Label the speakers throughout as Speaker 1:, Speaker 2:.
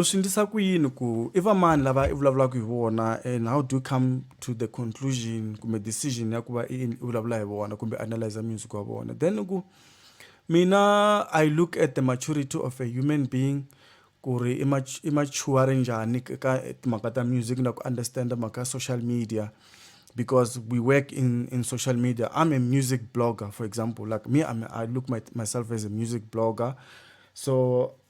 Speaker 1: U swi ndlisa ku yini ku i va mani lava i vulavulaka hi vona and how do you come to the conclusion kumbe decision ya ku va i vulavula hi vona kumbe analyse music wa vona then i ku mina I look at the maturity of a human being ku ri i i mature njhani ka timhaka ta music na ku understand mhaka ya social media because we work in in social media I'm a music blogger for example like me I'm I look my myself as a music blogger so.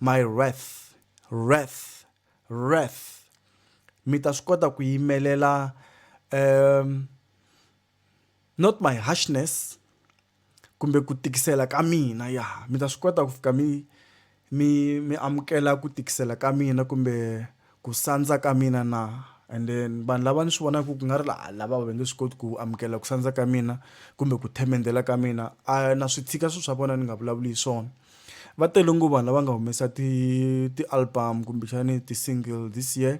Speaker 1: My wrath, wrath, wrath. Mi ta swi kota ku yimelela um not my harshness kumbe ku tikisela ka mina ya mi ta swi kota ku fika mi mi mi amukela ku tikisela ka mina kumbe. ku sandza ka mina na and then vanhu lava ni swi vonaka ku nga ri la lava va nge swi koti ku amukela ku sandza ka mina kumbe ku themendela ka mina a na swi tshika swilo swa vona ni nga vulavuli hi swona va tele ngo vanhu lava nga humesa ti ti-album kumbexani ti-single this year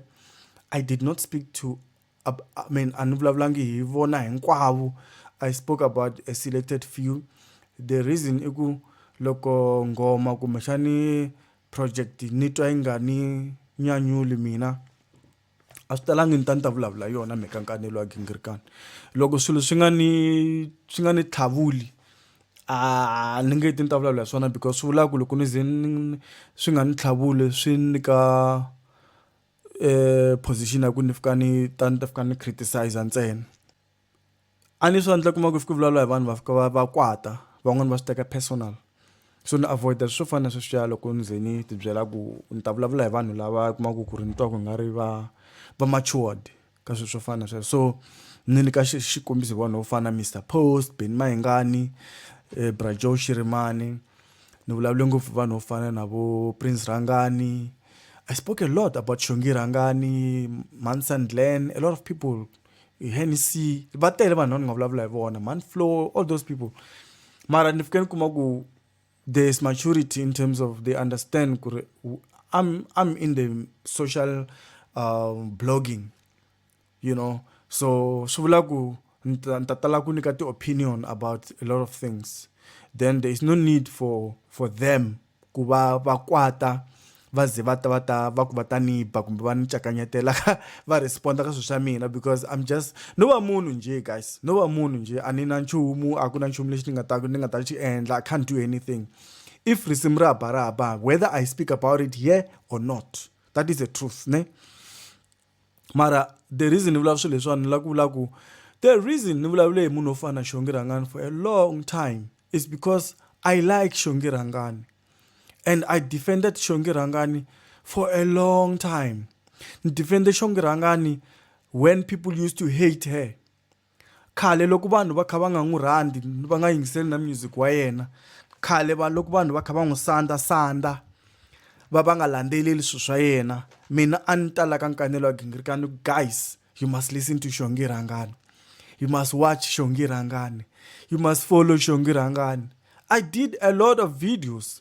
Speaker 1: i did not speak to I mean a ni vulavulangi hi vona hinkwavo i spoke about a selected few the reason i ku loko nghoma kumbexani project ni twa yi nga ni nyanyuli mina a swi talangi ni ta ni ta vulavula yona mhaka nkanelo wa gingirikani loko swilo swi nga ni swi nga ni tlhavuli a ni nge ti ni ta vulavula hi swona because swi vulaka ku loko ni ze ni swi nga ni tlhavuli swi nyika position ya ku ni fika ni ta ni ta fika ni criticiser ntsena. a ni swi endla kuma ku fika vulavula hi vanhu va fika va va kwata van'wani va swi teka personal so ni avoid swo fana na sweswiya loko ni ze ni ti byela ku ni ta vulavula hi vanhu lava kumaka ku ri ni twa ku nga ri va va matured ka swilo swo fana na sweswo so ni nyika xikombiso hi vanhu vo fana na Mister Post, Benny Mayengani, Bra Joe Shirimani ni vulavule ngopfu hi vanhu vo fana na vo Prince Rhangani I spoke a lot about Xongi Rhangani, Mhani Sandglen a lot of people. hennessy va tele vanhu lava ni nga vulavula hi vona man flow all those people mara ni fike ni kuma ku there is maturity in terms of they understand ku ri I'm, I'm in the social uh, blogging you know so swi vula ku ni ta tala ku nyika ti-opinion about a lot of things then there is no need for for them ku va va kwata va ze va ta va ta va ku va ta ni ba kumbe va ni cakanyetela va respond ka swilo swa mina because I'm just no va munhu njhe guys no va munhu njhe a ni na nchumu a ku na nchumu lexi ni nga ta ni nga ta xi endla I can't do anything if risimu ra ba ra ba whether I speak about it here or not that is the truth ne. mara the reason ni vulavula swilo leswiwani ni lava ku vula ku the reason ni vulavule hi munhu wo fana na xongi rhangani for a long time is because i like xongi rhangani and i defended xongi rhangani for a long time ni defende xongi rhangani when people used to hate her Khale loko vanhu va kha va nga n'wi rhandzi va nga yingiseli na music wa yena khale vanhu loko vanhu va kha va n'wi sandza sandza va va nga landzeleli swilo swa yena mina a ni ta la ka nkanelo wa gingiriko a ni ku guys you must listen to xongi rhangani you must watch xongi rhangani you must follow xongi rhangani I did a lot of videos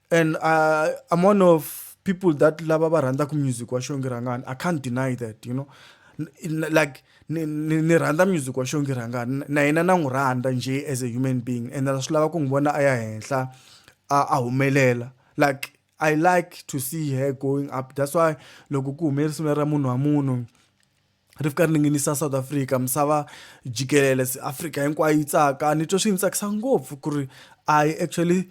Speaker 1: and uh, i'm one of people that lava va rhandzaka music wa xongirangani i can't deny that you know like ni rhandza music wa xongirangani na yena na n'wi rhandza nje as a human being and swi lava ku n'wi vona a ya henhla a humelela like i like to see her going up that's why loko ku hume risimu ra munhu wa munhu ri fika ri ninginisa south africa misava jikelele africa hinkwayo yi tsaka ni twa swi ni tsakisa ngopfu ku ri i actually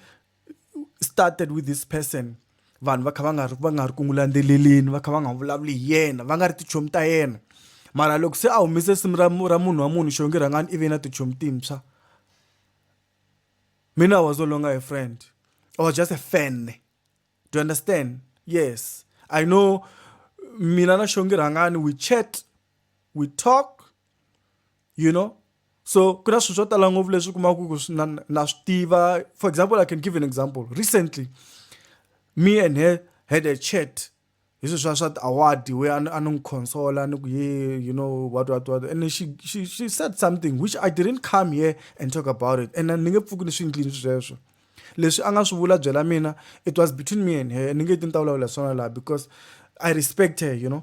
Speaker 1: started with this person vanhu va kha va nga ri va nga ri ku n'wi landzeleleni va kha va nga vulavuli hi yena va nga ri tichomi ta yena mara loko se a humise simu ra ra munhu wa munhu xongi rhangani i ve na tichomi timpswa mina was no longer a friend i was just a fan do you understand yes i know mina na xongi rhangani we chat we talk you know so ku na swilo swo tala ngopfu leswi kumaka ku na, na swi tiva for example i can give an example recently me and her had a chat hi swilo swa swa ti-award we a ni n'wi consola ni ku ye you know what what what and she, she, she said something which i didn't come here and talk about it and ni nge pfuki ni swi ndlini sweswo leswi a nga swi vula byela mina it was between me and her ni nge ti ni ta vulavula swona laha because i respect her you know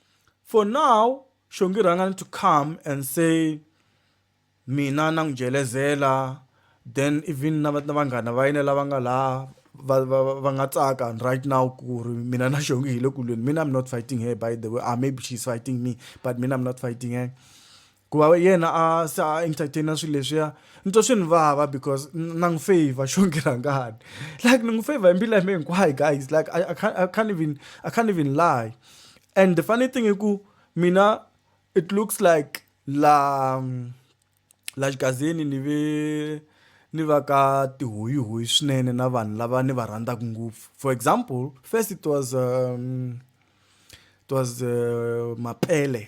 Speaker 1: for now xongi rhangani to come and say mina na n'wi jelezela then even na vanghana va yena lava nga laha va va va nga tsaka right now ku ri mina na xongi hi le kulweni mina i'm not fighting her by the way or ah, maybe she's fighting me but mina i'm not fighting her ku va yena a se a entertaina swilo leswiya ni twa swi ni vava because na n'wi favor xo ngirangani like ni n'wi favor hi mbilu ya mina hinkwayo guys like I, I, can't, I can't even I can't even lie and the funny thing i ku mina it looks like la la xigazini ni ve ni va ka tihuyihuyi swinene na vanhu lava ni va rhandzaka ngopfu for example first it was um, it was uh, mapele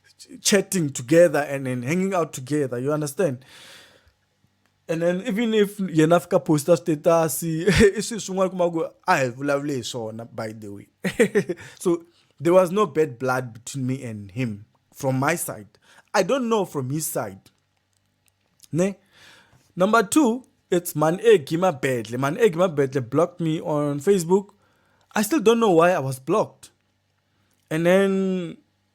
Speaker 1: chatting together and then hanging out together you understand and then even if yena fika posta status i swilo swin'wana kuma ku a hi vulavule hi swona by the way so there was no bad blood between me and him from my side i don't know from his side ne number two it's man egi mabedle man egi mabedle blocked me on facebook i still don't know why i was blocked and then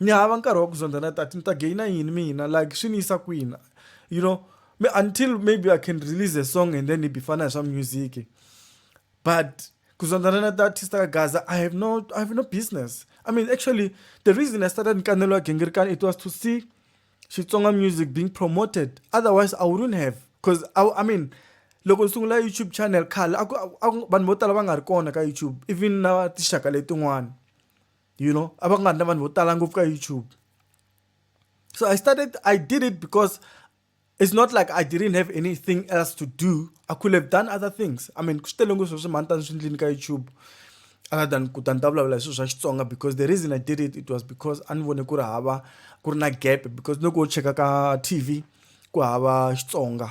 Speaker 1: Ni hava nkarhi wa ku zondha na tati ni ta gainer yini mina like swi ni yisa kwini you know me until maybe I can release a song and then hi bifana hi swa music but ku zondhana na ti-artist ka gaza I have no I have no business I mean actually the reason I started Nkanelo Wa Gingirikani it was to see Xitsonga music being promoted otherwise I wouldn't have cause I, I mean loko ni sungula YouTube channel khale a ku vanhu vo tala va nga ri kona ka YouTube even na tinxaka letin'wana. you know a va nga ri na vanhu vo tala ngopfu ka youtube so i started i did it because it's not like i didn't have anything else to do i could have done other things i mean ku swi tele ngopfu sweswi mhani tani swi ndlini ka youtube other than ku ta ni ta vulavula hi swilo swa xitsonga because the reason i did it it was because a ni vone ku ri hava ku ri na gap because loko wo cheka ka tv ku hava xitsonga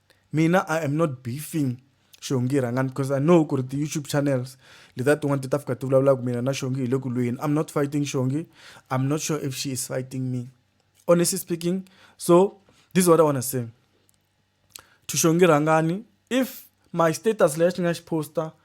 Speaker 1: Mina I am not beefing Shongi rhangani because I know ku ri ti-YouTube channels letiya tin'wana ti ta fika ti vulavula ku mina na Shongi hi le ku lweni. I'm not fighting Shongi. I'm not sure if she is fighting me. Honestly speaking, so this is what I wanna say. To Shongi rhangani if my status leyi xi nga xi poster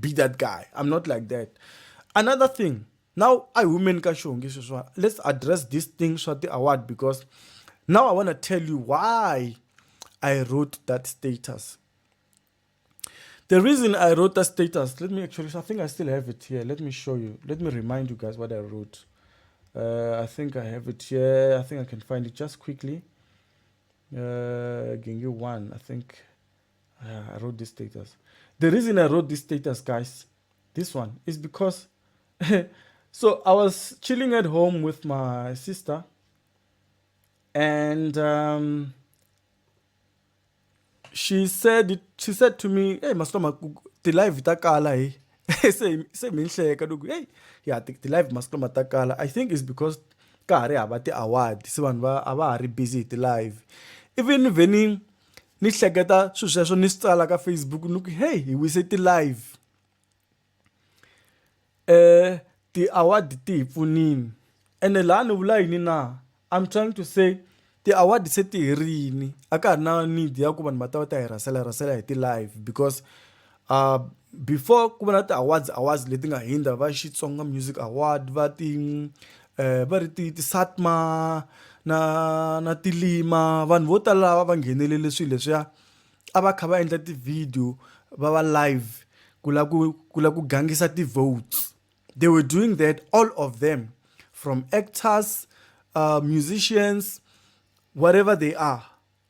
Speaker 1: be that guy i'm not like that another thing now i women ka xihongi sweswa let's address this thing swa ti-award because now i want to tell you why i wrote that status the reason i wrote that status let me actually i think i still have it here let me show you let me remind you guys what i wrote uh, i think i have it here i think i can find it just quickly uh, give you one i think uh, I wrote this status. The reason I wrote this status, guys, this one, is because... so I was chilling at home with my sister. And... Um, she said she said to me hey masitoma ti-live ta kala hi se se mi nhleka loko hey ya ti-live masitoma ta kala i think is because ka ha ri hava ti-award se vanhu va a va ha ri busy hi ti-live even veni ni hleketa swilo sweswo ni swi tsala ka Facebook ni ku heyi hi wise ti-live um ti-award ti hi pfunile ene laha ni vula yini na I'm trying to say ti-award se ti herile a ka ha ri na need ya ku vanhu va ta va ta hi rhasela rhasela hi ti-live because Uh, before ku va na ti-awards awards leti nga hindza va xitsonga music award va ti eh, va ri ti ti-satma na na tilima vanhu vo tala lava va nghenelele swilo leswiya a va kha va endla ti-video va va live ku la ku ku la ku gangisa ti-votes they were doing that all of them from actors uh, musicians whatever they are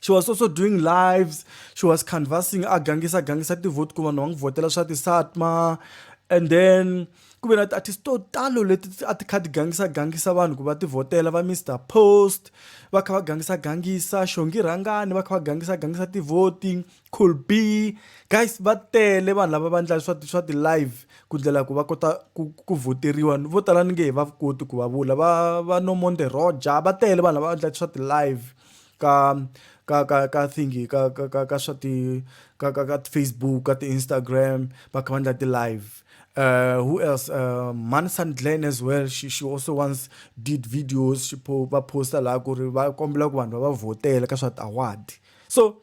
Speaker 1: she was also doing lives she was canvassing a gangisa gangisa ti-vote ku vanhu va n'wi vhotela swa ti-satma and then ku ve na ti-artist to talo leti a ti kha ti gangisa gangisa vanhu ku va ti vhotela va mr post va kha va gangisa gangisa xongi rhangani va kha va gangisa gangisa ti-voting cool b guys va tele vanhu lava va ndlala swa swa ti-live ku ndlela ku va kota ku ku voteriwa vo tala ni nge he va koti ku va vula va va no monde roger va tele vanhu lava va ndlala swa ti-live ka ka ka ka thingy ka ka ka ka swa ti ka ka ka Facebook ka ti Instagram va kha va endla ti live uh, who else uh, man sandglen as well she, she also once did videos she po, va posta laha ku ri va kombela ku vanhu va va vhotela ka swa ti-award so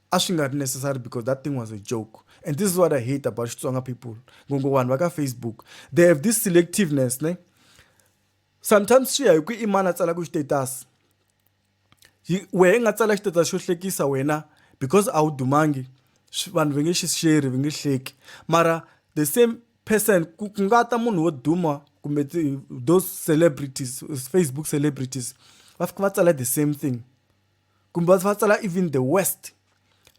Speaker 1: A swi nga ri necessary because that thing was a joke and this is what I hate about Xitsonga people ngopfu vanhu va ka Facebook they have this selectiveness ne sometimes swi ya hi ku i mani a tsalaka status wehe i nga tsala status xo hlekisa wena because a wu dumangi vanhu va nge xi sheri va nge hleki mara the same person ku nga ta munhu wo duma kumbe those celebrities Facebook celebrities va fika va tsala the same thing. kumbe va tsala even the west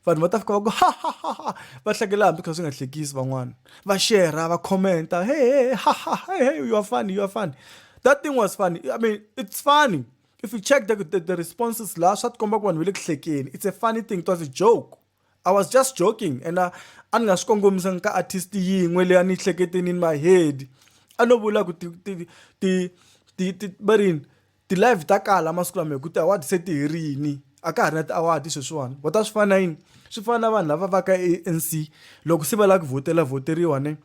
Speaker 1: vanhu va ta fika va ku ha ha ha ha va hlekela hambi kha swi nga hlekisi van'wana va shera va commenta he he ha ha he you are funny you are funny that thing was funny i mean it's funny if you check the, the, the responses la swa tikomba ku vanhu va le ku hlekeni it's a funny thing it was a joke I was just joking and a a ni nga swi kongomisanga ka artist yin'we leyi a ni hleketeni in my head a no vula ku ti ti ti ti ti va rini ti-live ta kala masiku lama hi ku ti-award se ti herile a ka ha ri na ti-award sweswiwani ho ta swi fana na yini swi fana na vanhu lava va ka A_N_C loko se va lava ku vhotela vhoteriwa ne.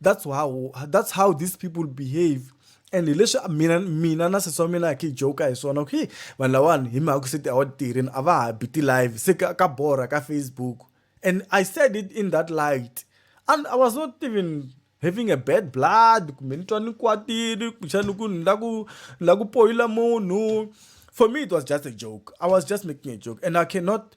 Speaker 1: that's how that's how these people behave and hi leswi mina mina na sesi wa mina hi joka hi swona okay vanhu lawani hi mhaka ku se ti awa tirheni a va ha bi ti-live se ka, ka borha ka facebook and i said it in that light and i was not even having a bad blood kumbe ni twa ni kwatile kumbexani ku ni la ku ni la ku poyila munhu for me it was just a joke i was just making a joke and i cannot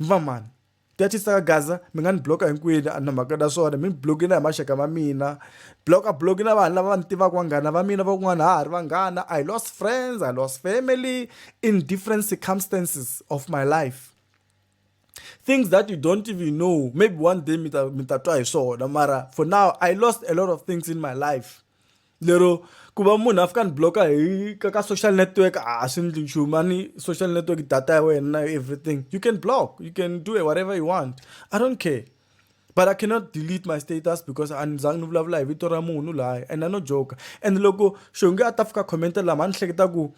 Speaker 1: mi va mani ti ya ti saka gaza mi nga ni block hinkwini a na mhaka na swona mi ni block na hi maxaka ma mina block a block na vanhu lava va ni tivaka vanghana va mina van'wana ha ha ri vanghana i lost friends i lost family in different circumstances of my life things that you don't even know maybe one day mi ta mi ta twa hi swona mara for now i lost a lot of things in my life lero ku va munhu a fika ni blocker hi ka ka social network a swi ndli nchumu a ni social network data ya wena na everything you can block you can do whatever you want i don't care but i cannot delete my status because a ni zangi ni vulavula hi vito ra munhu laya and a no joker and loko xonge a ta fika commenta lama a ni hleketa ku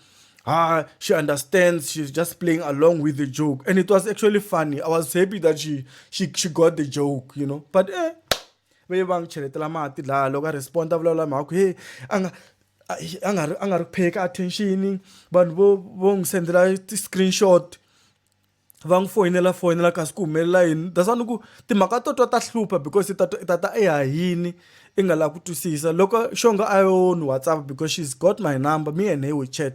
Speaker 1: ha she understands she's just playing along with the joke and it was actually funny i was happy that she she, she got the joke you know but eh va ye va n'wi cheletela mati laha loko a respond a vulavula mhaka ku he a nga a nga ri a nga ri pay ka attention vanhu vo vo n'wi sendela ti-screenshot va n'wi foyinela foyinela kasi ku humelela yini that's why ni ku timhaka to twa ta hlupha because i ta i ta ta i hahini i nga lavi ku twisisa loko xongo a yo ni WhatsApp because she's got my number me and her we chat.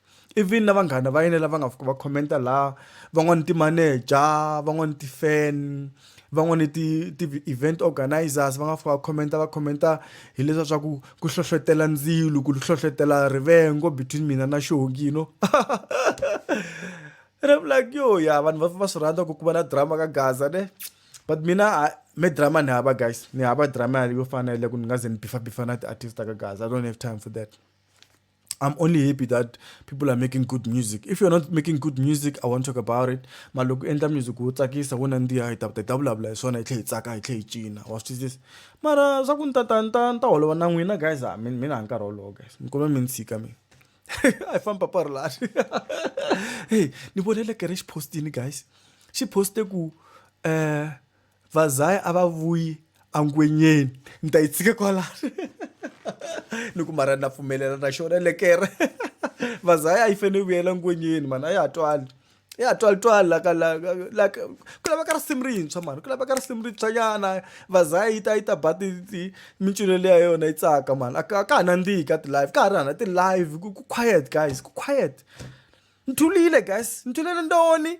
Speaker 1: even na vanghana va yena lava nga fika va commenta laha van'wani ti-manager van'wani ti-fan van'wani ti ti-event organizers va nga fika va commenta va commenta hi leswiya swa ku ku hlohlotela ndzilo ku hlohlotela rivengo between mina na xongi you know and I'm like yo ya vanhu va va swi rhandza ku ku va na drama ka gaza ne but mina me drama ni hava guys ni hava drama yo fana na leyi ku ni nga ze ni bifabifa na ti-artist ta ka gaza I don't have time for that. I'm only happy that people are making good music. If you're not making good music, I won't talk about it. But look, enter music wo tsakisa wo nandziha hi ta hi ta vulavula hi swona hi tlhe hi tsaka hi tlhe hi cina wa swi twisisa mara swa ku ni ta ta ni ta ni ta holova na n'wina guys a mi mina hi nkarhi wolowo guys mi kuma mi ni tshika mina a hi famba parolani hey ni vonele kere xi postini guys xi poste ku um vazaya a va vuyi angwenyeni ni ta yi tshike kwalano ni ku mara na pfumelela na xona lekere vazaya a yi fanele yi vuyela ngwenyeni mani a ya ha twali ya ha twali twali la ka la la ku laveka risimu rintshwa mani ku laveka risimu rintshwa nyana vazaya yi ta yi ta ba ti ti mincino leyi ya yona yi tsaka mani a ka ka ha nandzihi ka ti-live ka ha ri hana ti-live ku quiet guys ku quiet ni thulile guys ni thulele ndoni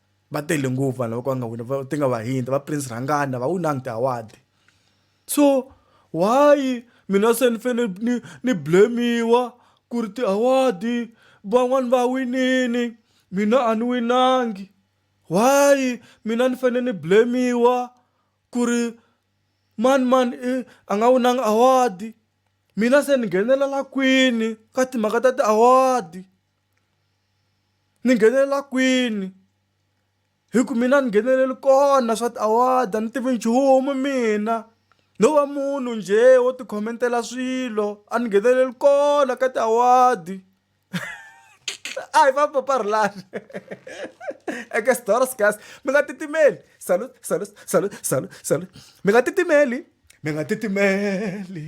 Speaker 1: va tele ngopfu vanhu lava ka va nga wina ti nga vahindi va prince rhangana va winangi ti-award so why mina se ni fane ni ni blame-iwa ku ri ti-award van'wani va winini mina a ni winangi why mina ni fane ni blame-iwa ku ri mani mani i a nga winanga award mina se ni nghenelela kwini ka timhaka ta ti-award. ni nghenelela kwini hi ku mina ni ngheneleli kona swa ti-award-a ni tivi nchumu mina no va munhu njhe wo ti khomentela swilo a ni ngheneleli kona ka ti-award a hi va papa rhulani eke xidyoho xinghezi mi nga titimeli salute salute salute salute salute mi nga titimeli mi nga titimeli.